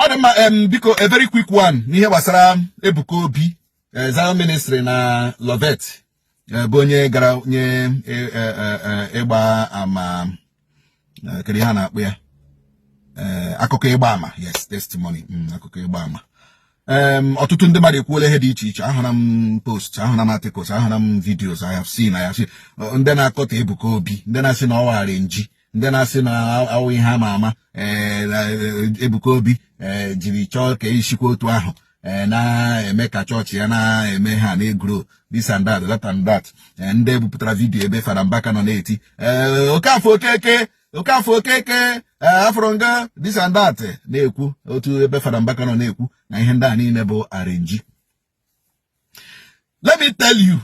ọ dị mma em biko a very quick one n'ihe gbasara Ebuka Obi eh, Zion ministry na Loveth eh, bụ onye gara nye eh, eh, eh, eh, ịgba ama eh, kedu ihe a na-akpọ ya Eh, akụkọ ịgba ama yes testimony mm, akụkọ ịgba ama ọtụtụ ndị mmadụ ekwuola ihe dị iche iche ahụra m post ahụra m articles ahụra m videos I have seen ndị na-akọtọ Ebuka Obi ndị na-asị na ọ wụ arenji ndị na-asị na ọ wụ ihe ama ama Ebuka Obi jiri chọọ ka e shikwa otu ahụ Eh, na-eme ka chọọchị ya na-eme ha na-egro this and that that and that eh, ndị bupụtara vidiyo ebe Fada Mbaka nọ na-eti eh, okafọ okeke Okafọ Okeke eh, Afọrọnga this and that eh, na-ekwu otu ebe Fada Mbaka nọ na-ekwu na ihe ndị a niile bụ arenji let me tell you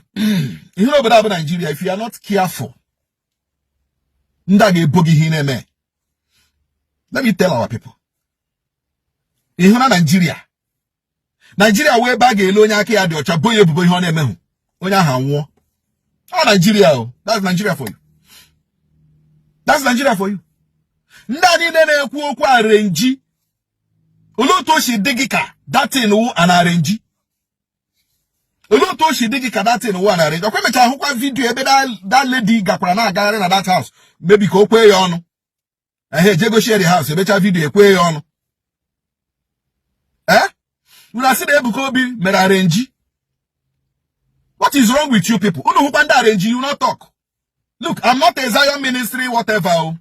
ị hụna obodo a bụ Naijiria if you are not careful ndị a ga-ebo gị ihe ị na-eme let me tell our people ị hụna Naijiria naijiria wụ ebe a ga-ele onye aka ya dị ọcha bo ya ebubo ihe ọ na-emehụ onye ahụ anwụọ ọ naijiria o that's Nigeria for you that's Nigeria for you ndị a niile na-ekwu okwu arenji olee otu o si dị gị ka datin wụ an arenji olee otu o si dị gị ka datin wụ an arenji ọkwa e mecha ahụkwa vidiyo ebe dat ledi gakwara na-agagharị na dat haus maybe ka o kwee ya ọnụ ehe e jee goshi ya the house e mecha vidio e kwee ya ọnụ ee eh? unu asị na Ebuka Obi mere arenji what is wrong with you people unu hụkwa ndị arenji you no talk look I'm not a Zion ministry whatever o oh.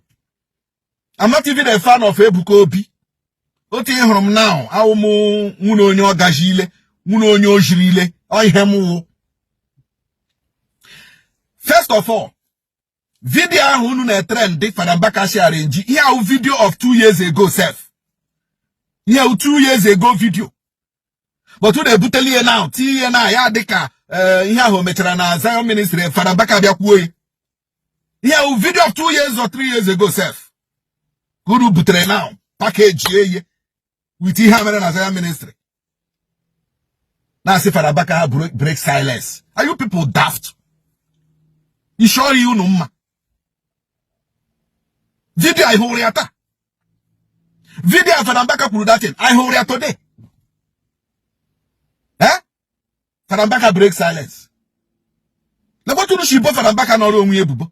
I'm not even a fan of Ebuka Obi otu ị hụrụ m now awụ m nwụnne onye ọgaji ile nwụnne onye ojiri ile ọ ihe m wụ first of all vidio ahụ unu na-etrendị Fada Mbaka sị arenji ihe a wụ vidio of two years ago sef ihe a wụ two years ago vidio but unu ebutela ya now tinye na ya dịka eh, ihe ahụ mechara na Zion ministry Fada Mbaka bịa kwuo ihe a wụ vidio of two years or three years ago sef ka unu butere now pakejie ya wit ihe a mere na Zion ministry na-asị fada mbaka ha break silence are you people daft isi ọ rị unu mma vidio anyị hụrụ ya taa vidio a fada mbaka kwuru datin anyị hụrụ ya today eh fada mbaka break silence lekwa otu unu shi bo fada mbaka nọrọ onwe ya ebubo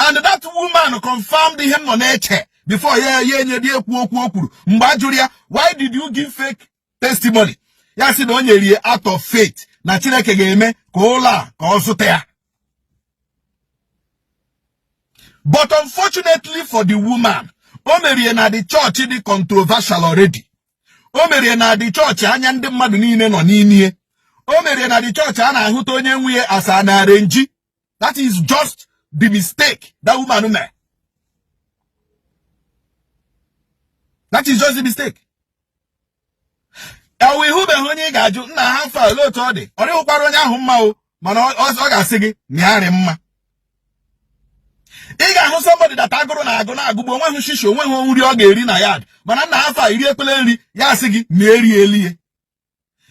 and that woman confirmed ihe m nọ na-eche before ya enyedị ekwu okwu o kwuru mgbe a jụrụ ya why did you give fake testimony ya sị na o nyere ya out of faith na Chineke ga-eme ka ụlọ a ka ọ zụta ya but unfortunately for the woman o merie na the church dị controversial already o merie na the church anya ndị mmadụ niile nọ n'ime o merie na the church a na-ahụta onye nwe ya as an arenji that is just the mistake that woman made that is just the mistake ewo ị hụbeghị onye ị ga-ajụ nna how far olee otu ọ dị ọ dịghịkwara onye ahụ mma o mana ọ ga-asị gị ma ya rị mma ị ga-ahụ somebody that agụrụ na-agụ na-agụgbu o nweghị shishi o nweghị nri ọ ga-eri na yard mana nna how far i riekpele nri ya asị gị ma ya eriele ihe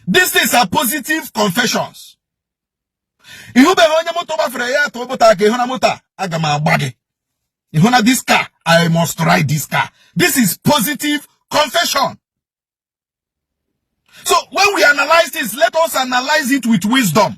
these things are positive confessions ị hụbeghị onye moto gbafere ya atụọ moto aka ị hụna moto a aga m agba gị ị hụna this car i must ride this car this is positive confession so when we analyze this let us analyze it with wisdom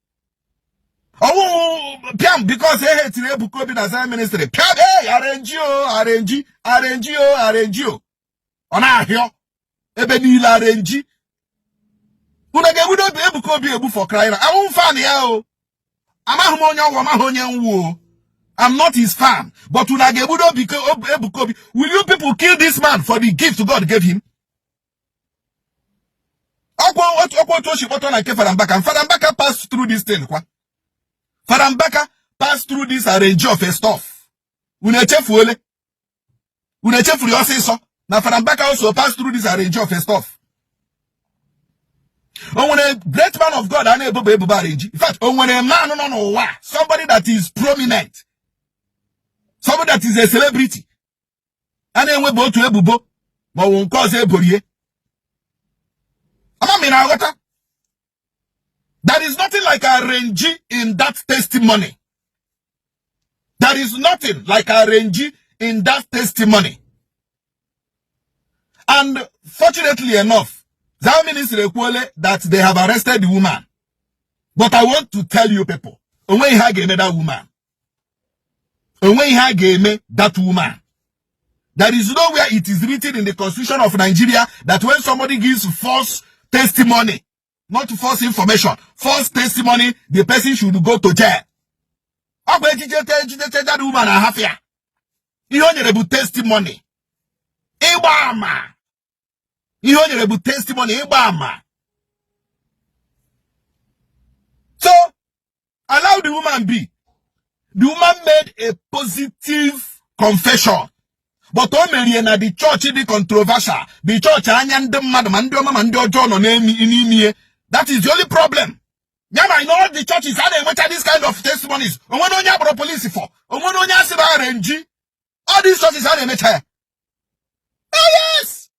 ọ wụ piam because e hetiri Ebuka Obi na Zion ministry piam e arenji o arenji arenji o arenji o ọ na-ahịọ ebe niile arenji unu ga-egbudo Ebuka Obi egbu for crying awụghị m fan ya o amaghị m onye ọ wụ ọ maghị onye m wụ o I'm not his fan but unu ga-egbudo Ebuka Obi will you people kill this man for the gift God gave him ọkwa otu ọkwa otu o si kpọtụ na nke Fada Mbaka Fada Mbaka pass through this thing kwa Fada Mbaka pass through this arrange of a stuff unu echefuole unu echefuru ya ọsịsọ na Fada Mbaka also pass through this arrange of a stuff o nwere great man of God a na-ebobe ebubo arenji in fact o nwere man nọ n'ụwa somebody that is prominent somebody that is a celebrity a na-enwebe otu ebubo ma ọ bụ nke ọzọ e borie ama m ị na-aghọta there is nothing like arrange in that testimony there is nothing like arrange in that testimony and fortunately enough that ministry ekwuole that they have arrested the woman but i want to tell you people o nweghị ihe a ga-eme that woman o nweghị ihe a ga-eme that woman there is nowhere it is written in the constitution of Nigeria that when somebody gives false testimony not false information false testimony the person should go to jail ọ bụ e jidechaa e jidechaa that woman a hafụ ya ihe o nyere bụ testimony ịgba ama ihe o nyere bụ testimony ịgba ama so allow the woman be the woman made a positive confession but o mere ya na the church dị controversial the church anya ndị mmadụ ma ndị ọma ma ndị ọjọọ nọ n'ime ihe that is the only problem yeah in all the churches a na-enwecha this kind of testimonies o nwere onye a kpọrọ police for o nwere onye a sị na arrangee all these churches a na-emecha ya oh, yes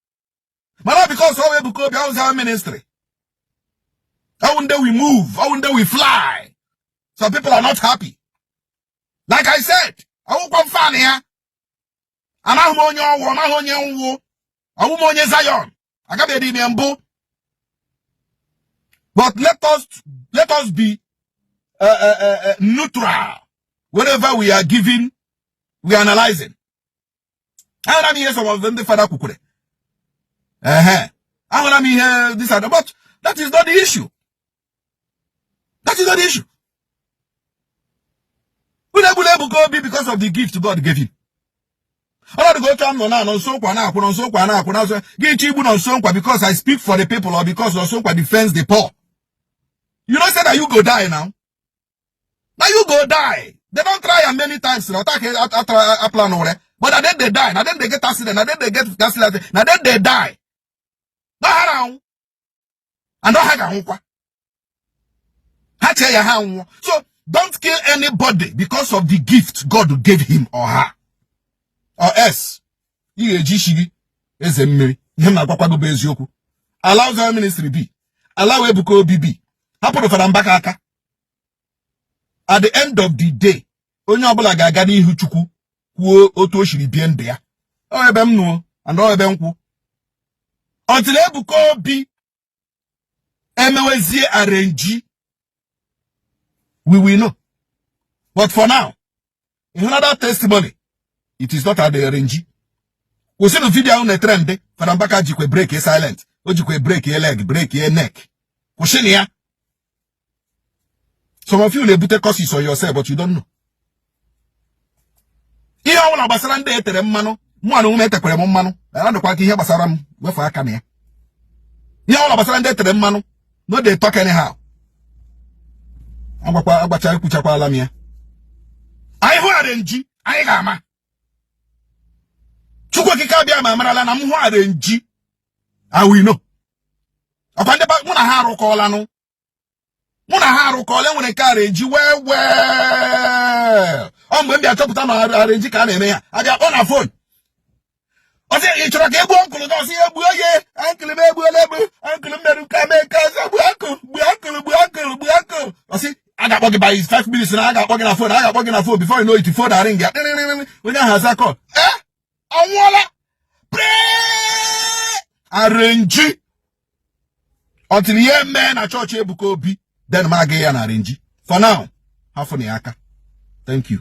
mana because ọ wụ Ebuka Obi ọ wụ Zion ministry ọ wụ ndị we move ọ wụ ndị we fly some people are not happy like i said awụkwa m fan ya amaghị m onye ọ wụ ọ maghị onye m wụ awụ m onye Zion agabeghị m ya mbụ but let us let us be uh, uh, uh, uh neutral whenever we are giving we are analyzing ahụra m ihe some of ndị fada kwukwara ehe ahụra m ihe this other but that is not the issue that is not the issue unu egbula Ebuka Obi because of the gift God gave him ọnọdụ gị otu a Nonso Nkwa na-ekwu Nonso Nkwa na-ekwu Nonso gị iche igbu Nonso Nkwa because I speak for the people or because Nonso Nkwa defends the poor you know say that you go die now na you go die they don try am many times na ọta ka aplan were but na dem dey die na dem dey get accident na dem dey get accident na dem dey die na ha na-anwụ and ha ga-anwụkwa ha chee ya ha nwụọ so don't kill anybody because of the gift God gave him or her or else ị ga-eji isi gị eze mmiri ihe m na-agwakwa gị bụ eziokwu allow Zion ministry be allow Ebuka Obi be hapụrụ fada Mbaka aka at the end of the day onye ọbụla ga-aga n'ihu chukwu kwuo otu o siri bie ndụ ya ọ ebe m nọ and ọ ebe m kwụ until Ebuka Obi emewezie arrangee we will know but for now ịhụ na that testimony it is not adịghị arrangee kwụsịnụ video ahụ na-etrend fada Mbaka jikwe break silent o jikwe break leg break neck kwụsịnụ ya some of you na-ebute curses on yourself but you don't know ihe ọ bụla gbasara ndị etere mmanụ mụnwa onwe m e tekwara m mmanụ adịkwa ka ihe gbasara m wefu aka na ya ihe ọ bụla gbasara ndị etere mmanụ no dey talk anyhow agwakwa agbacha ekwuchakwala m ya anyị hụ arrangee anyị ga-ama chukwu okike abịama marala na m hụ arrangee I will know ọkwa ndị mụ na ha arụkọọlanụ mụ na ha arụkọọla e nwere nke arrangee well well ọ mgbe m bịa chọpụta na arrangee ka a na-eme ya a bịa kpọọ na phone ọ sị ị chọrọ ka e gbuo uncle gị ọ sị ya e gbuo ya uncle m egbuola egbu uncle m mere nke a mee nke ọzọ gbuo uncle gbuo uncle gbuo uncle gbuo uncle ọ sị a ga-akpọ gị by five minutes na a ga-akpọ gị na phone a ga-akpọ gị na phone before you know it phone aringia onye ahụ aza call ee ọ nwụọla pre-arrange until ihe mee na chọọchị Ebuka Obi then ma aga ya na arrange for now hafụ na ya aka thank you